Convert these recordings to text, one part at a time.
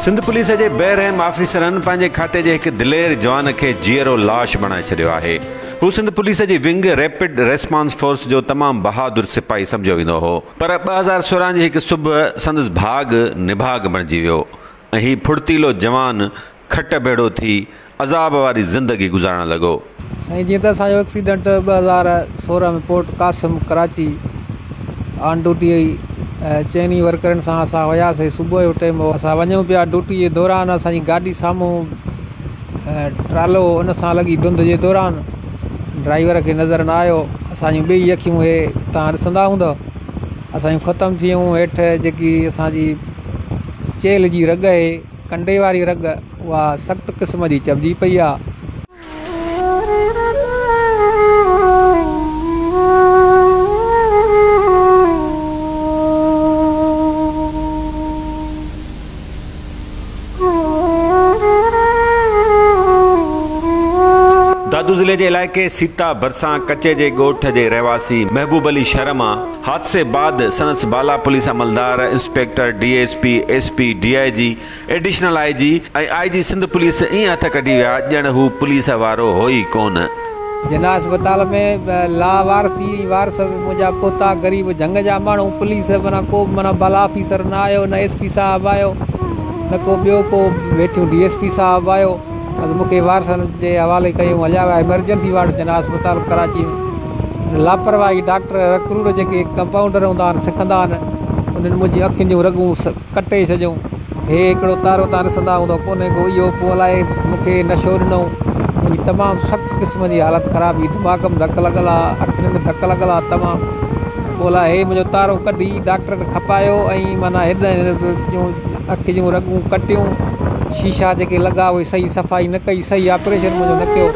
Sindh police جي بي رحم آفيسرن پنهنجي کاتي جي هڪ دلير جوان کي جيئرو لاش بڻائي ڇڏيو آهي. هو سنڌ پوليس جي ونگ ريپڊ ريسپانس فورس جو تمام بهادر سپاهي سمجهيو ويندو هو پر ٻه هزار سورهن جي هڪ صبح سندس ڀاڳ نڀاڳ بڻجي ويو ۽ هي ڦڙتيلو جوان کٽ ڀيڙو ٿي عذاب واري زندگي گذارڻ لڳو. سائين جيئن ته اسان جو ايڪسيڊنٽ ٻه هزار سورهن ۾ port Qasim Karachi on duty هئي ۽ چئن ئي ورڪرن سان اسان وياسي صبح جو ٽيم هو اسان وڃون پيا ڊوٽي جي دوران اسان جي گاڏي سامهون ٽرالو هو ان سان لڳي ڌنڌ جي دوران ڊرائيور کي نظر نه آيو اسان جون ٻئي اکيون هي تان ڏسندا هوندؤ اسان جون ختم ٿي ويون هيٺ جيڪي اسان جي چيلهه جي رڳ هي ڪنڊي واري رڳ اها سخت قسم جي چئبجي پئي آ. دادو ضلعي جي علائقي سيتا ڀرسان ڪچي جي ڳوٺ جي رهواسي محبوب علي شرم آ، حادثي بعد سندس بالا پوليس عملدار، inspector, D S P, S P, D I G, additional I G ۽ I G Sindh police ائين هٿ ڪڍي ويا ڄڻ هو پوليس وارو هو ئي ڪونه. جناح اسپتال ۾ لا وارثي ۽ وارث منهنجا پوتا غريب جهنگ جا ماڻهو پوليس معنيٰ ڪو به معنيٰ بالا آفيسر نه آيو نه ايس پي صاحب آيو نه ڪو ٻيو ڪو ويٺيون ڊي ايس پي صاحب آيو. اڳ مون کي وارثن جي حوالي ڪيو هليا ويا ايمرجنسي وارڊ جناح اسپتال ڪراچي ۾ لاپرواهي ڊاڪٽر رڪروڙ جيڪي ڪمپائونڊر هوندا آهن سکندا آهن انهن منهنجي اکين جون رڳون ڪٽي ڇڏيون هي هڪڙو تارو تان رسندا هوندو ڪونهي ڪو اهو پوء الائي مون کي نشو ڏنو منهنجي تمام سخت قسم جي حالت خراب هئي دماغ ۾ ڌڪ لڳل ها اکين ۾ ڌڪ لڳل ها تمام پوء الائي هي منهنجو تارو ڪڍي ڊاڪٽرن کپايو ۽ معنيٰ هيڏانهن هن جون اک جون رڳون ڪٽيون شيشا جيڪي لڳا اهي صحيح صفائي نه ڪئي صحيح آپريشن منهنجو نه ڪيو.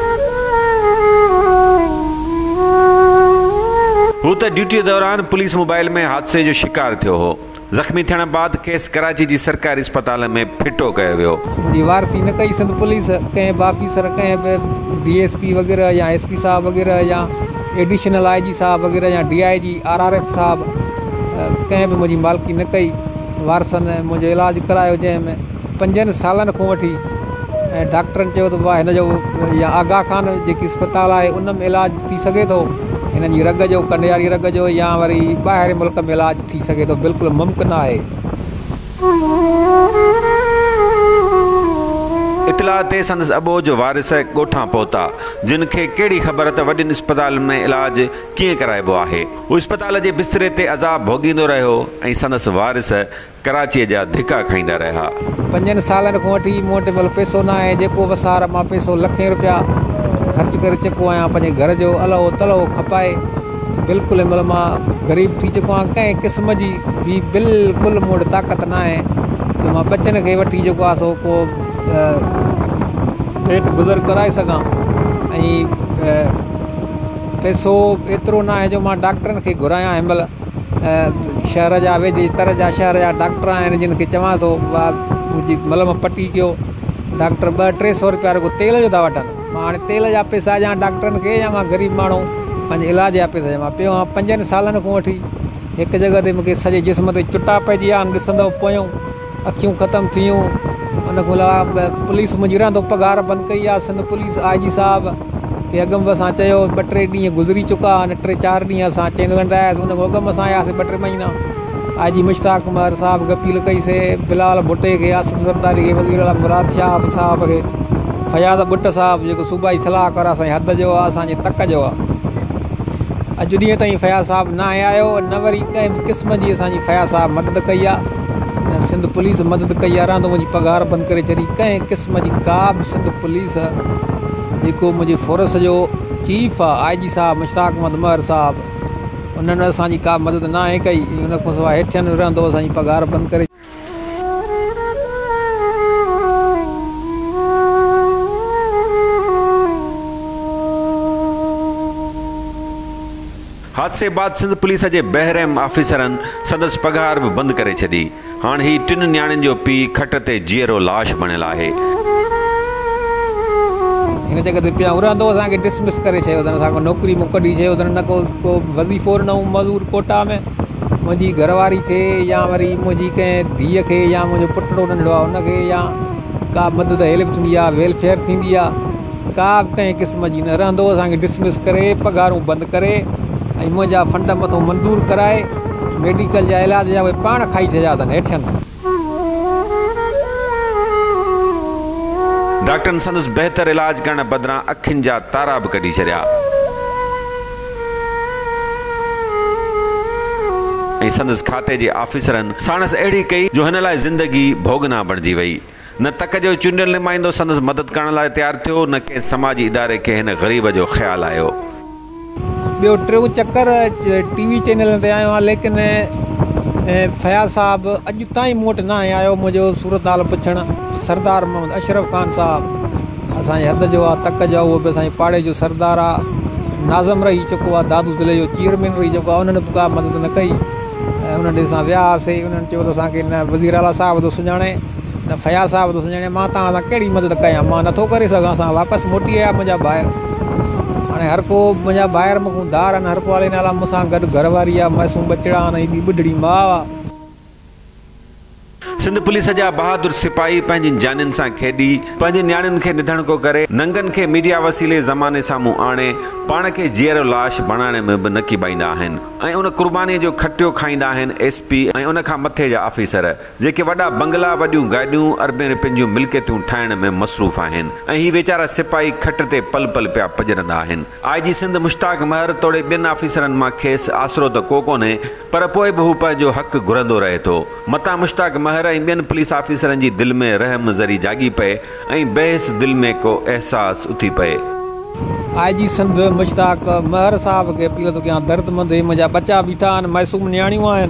هو ته ڊيوٽي دوران پوليس موبائل ۾ حادثي جو شڪار ٿيو هو. زخمي ٿيڻ بعد کيس ڪراچي جي سرڪاري اسپتال ۾ ڦٽو ڪيو ويو. منهنجي وارثي نه ڪئي سنڌ پوليس ڪنهن به آفيسر ڪنهن به ڊي ايس پي وغيره يا ايس پي صاحب وغيره يا ايڊيشنل آء جي صاحب وغيره يا D I G R R F صاحب ڪنهن به منهنجي مالڪي نه ڪئي. وارثن منهنجو علاج ڪرايو جنهن ۾ پنجن سالن کان وٺي ۽ ڊاڪٽرن چيو ته بابا هن جو يا آغا خان جيڪي اسپتال آهي ان ۾ علاج ٿي سگهي ٿو هن جي رڳ جو ڪنڊياري رڳ جو يا وري ٻاهرين ملڪ ۾ علاج ٿي سگهي ٿو بلڪل ممڪن آهي. اطلاع تي سندس اٻوجھ جو وارث ڳوٺان پهتا جن کي ڪهڙي خبر ته وڏين اسپتالن ۾ علاج ڪيئن ڪرائبو آهي. هو اسپتال جي بستري تي عذاب ڀوڳيندو رهيو ۽ سندس وارث ڪراچيء جا ڌڪا کائيندا رهيا. پنجن سالن کان وٺي مون وٽ مل پئسو نه آهي، جيڪو وسار مان پئسو لکين روپيا خرچ ڪري چڪو آهيان، پنهنجي گهر جو الهو تلهو کپائي بلڪل مل مان غريب ٿي چڪو آهيان، ڪنهن قسم جي به بلڪل مون وٽ طاقت نه آهي جو مان ٻچن کي وٺي جيڪو آهي سو ڪو پيٽ گذر ڪرائي سگهان ۽ پئسو به ايترو ناهي جو مان ڊاڪٽرن کي گهرايان هن مهل شهر جا ويجهي تر جا شهر جا ڊاڪٽر آهن جن کي چوان ٿو وا منهنجي ملم پٽي ڪيو ڊاڪٽر ٻه ٽي سو روپيا رڳو تيل جو ٿا وٺن مان هاڻي تيل جا پئسا ڏيان ڊاڪٽرن کي يا مان غريب ماڻهو پنهنجي علاج جا پئسا ڏيان مان پيو آهيان پنجن سالن کان وٺي هڪ جڳهه تي مونکي سڄي جسم تي چٽا پئجي ويا آهن ڏسندو پيو اکيون ختم ٿيون ان کان علاوه پوليس منهنجي رهندو پگهار بند ڪئي آ سنڌ پوليس آء جي صاحب کي اڳ ۾ به اسان چيو ٻه ٽي ڏينهن گذري چڪا آهن ٽي چار ڏينهن اسان چينل هڻندا آياسي ان کان اڳ ۾ اسان آياسي ٻه ٽي مهينا آء جي مشتاق عمر صاحب کي اپيل ڪئي سي بلال ڀٽي کي آصف زرداري کي وزير اعليٰ مراد شهاب صاحب کي فياض ڀٽ صاحب جيڪو صوبائي صلاحڪار اسان جي حد جو آ اسان جي تڪ جو آ اڄ ڏينهن تائين فياض صاحب ناهي آيو نه وري ڪنهن به قسم جي اسان جي فياض صاحب مدد ڪئي آ نه سنڌ پوليس مدد ڪئي يا راند منهنجي پگهار بند ڪري ڇڏي ڪنهن قسم جي ڪا به سنڌ پوليس جيڪو منهنجي فورس جو چيف آ آئي جي صاحب مشتاق احمد مهر صاحب انهن اسان جي ڪا مدد ناهي ڪئي ۽ ان کان سواء هيٺين رهندو اسان جي پگهار بند ڪري حادثي بعد سنڌ پوليس جي بحرحم آفيسرن سندس پگهار به بند ڪري ڇڏي، هاڻ هي ٽن نياڻين جو پيء کٽ تي جيئرو لاش بڻيل آهي. هن چيو ته جڏهن پيا هوندا تو اسان کي ڊسمس ڪري ڇڏيو اٿن، اسان کان نوڪري مون ڪڍي ڇڏيو اٿن، نه ڪو ڪو وظيفو ڏنو هو مزور ڪوٽا ۾، منهنجي گهر واري کي يا وري منهنجي ڪنهن ڌيء کي يا منهنجو پٽڙو ننڍڙو آهي ان کي يا ڪا مدد هيلپ ٿيندي آهي ويلفيئر ٿيندي آهي. ڪا به ڪنهن قسم جي نه رهندو اسان کي ڊسمس ڪري پگهارون بند ڪري ۽ منهنجا فنڊ مٿو منظور ڪرائي ميڊيڪل جا علاج جا اهي پاڻ کائي ڇڏيا اٿن هيٺين ڊاڪٽرن سندس بهتر علاج ڪرڻ بدران اکين جا تارا به ڪڍي ڇڏيا ۽ سندس کاتي جي آفيسرن ساڻس اهڙي ڪئي جو هن لاء زندگي ڀوڳنا بڻجي وئي نه تڪ جو چونڊيل نمائندو سندس مدد ڪرڻ لاء تيار ٿيو، نه ڪنهن سماجي اداري کي هن غريب جو خيال آيو. ٻيو ٽيون چڪر ٽي وي چينلن تي آيو آهيان ليڪن فياض صاحب اڄ تائين مون وٽ ناهي آيو منهنجو صورت حال پڇڻ. سردار محمد اشرف خان صاحب اسان جي حد جو آ، تڪ جو آ، اهو به اسان جي پاڙي جو سردار آ، ناظم رهي چڪو آ، دادو ضلعي جو چيئرمين رهي چڪو آ، انهن به ڪا مدد نه ڪئي. انهن ڏي اسان ويا هئاسين، انهن چيو ته اسان کي نه وزير اعليٰ صاحب ٿو سڃاڻي، نه فياض صاحب ٿو سڃاڻي، مان توهان سان ڪهڙي مدد ڪيان، مان نه ٿو ڪري سگهان، اسان واپس موٽي آيا منهنجا ڀائر، هاڻي هرڪو منهنجا ڀائر مون کان ڌار آهن، هرڪو علي نالا مون سان گڏ گهر واري آهي، معصوم ٻچڙا آهن، هي ٻي ٻڍڙي ماء آهي. سنڌ پوليس جا بهادر سپاهي پنهنجين جانين سان کيڏي پنهنجين نياڻين کي نڌڻڪو ڪري ننگن کي ميڊيا وسيلي زماني سامهون آڻي پاڻ کي جيئرو لاش بڻائڻ ۾ به نقيبائيندا آهن ۽ ان قرباني جو کٽيو کائيندا آهن ايس پي ۽ ان کان مٿي جا آفيسر جيڪي وڏا بنگلا وڏيون گاڏيون اربين رپين جون ملڪيتون ٺاهڻ ۾ مصروف آهن ۽ هي ويچارا سپاهي کٽ تي پل پل پيا پڄرندا آهن آء جي سنڌ مشتاق مهر توڙي ٻين آفيسرن مان کيس آسرو ته ڪو ڪونهي پر پوء به هو پنهنجو حق گهرندو رهي ٿو. متان مشتاق مهر ۽ ٻين پوليس آفيسرن جي دل ۾ رحم ذري جاڳي پئي ۽ بحيس دل ۾ ڪو احساس اٿي پئي. آء جي سنڌ مشتاق مهر صاحب کي اپيل ٿو ڪيان دردمند هي منهنجا ٻچا بيٺا آهن معصوم نياڻيون آهن.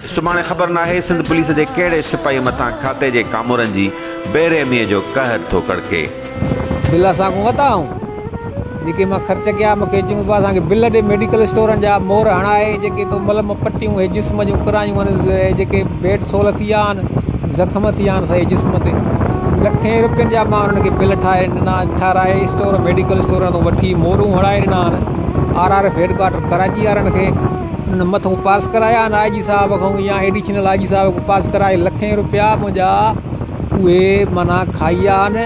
سڀاڻي خبر ناهي سنڌ پوليس جي ڪهڙي سپاهي مٿان کاتي جي ڪامورن جي بي رحميء جو قهر ٿو ڪڙڪي. بل اسان کون ورتا هئائون جيڪي مان خرچ ڪيا مون کي چيون ته اسان کي بل ڏي ميڊيڪل اسٽورن جا مور هڻائي جيڪي تو ملم پٽيون هي جسم جون ڪرايون هن هي جيڪي بيڊ سول ٿي ويا آهن زخم ٿي ويا آهن سڄي جسم تي لکين روپين جا مان انهن کي بل ٺاهي ڏنا ٺهرائي اسٽور ميڊيڪل اسٽورن تون وٺي مورون هڻائي ڏنا آهن R R F headquarter Karachi وارن کي انهن مٿون پاس ڪرايا آهن آء جي صاحب کان يا ايڊيشنل آء جي صاحب کان پاس ڪرائي لکين روپيا منهنجا اهي معنيٰ کائي ويا آهن.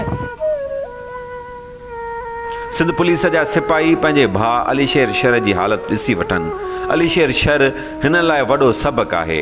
سنڌ پوليس جا سپاهي پنهنجي ڀاء علي شير شر جي حالت ڏسي وٺن. علي شير شر هنن لاء وڏو سبق آهي.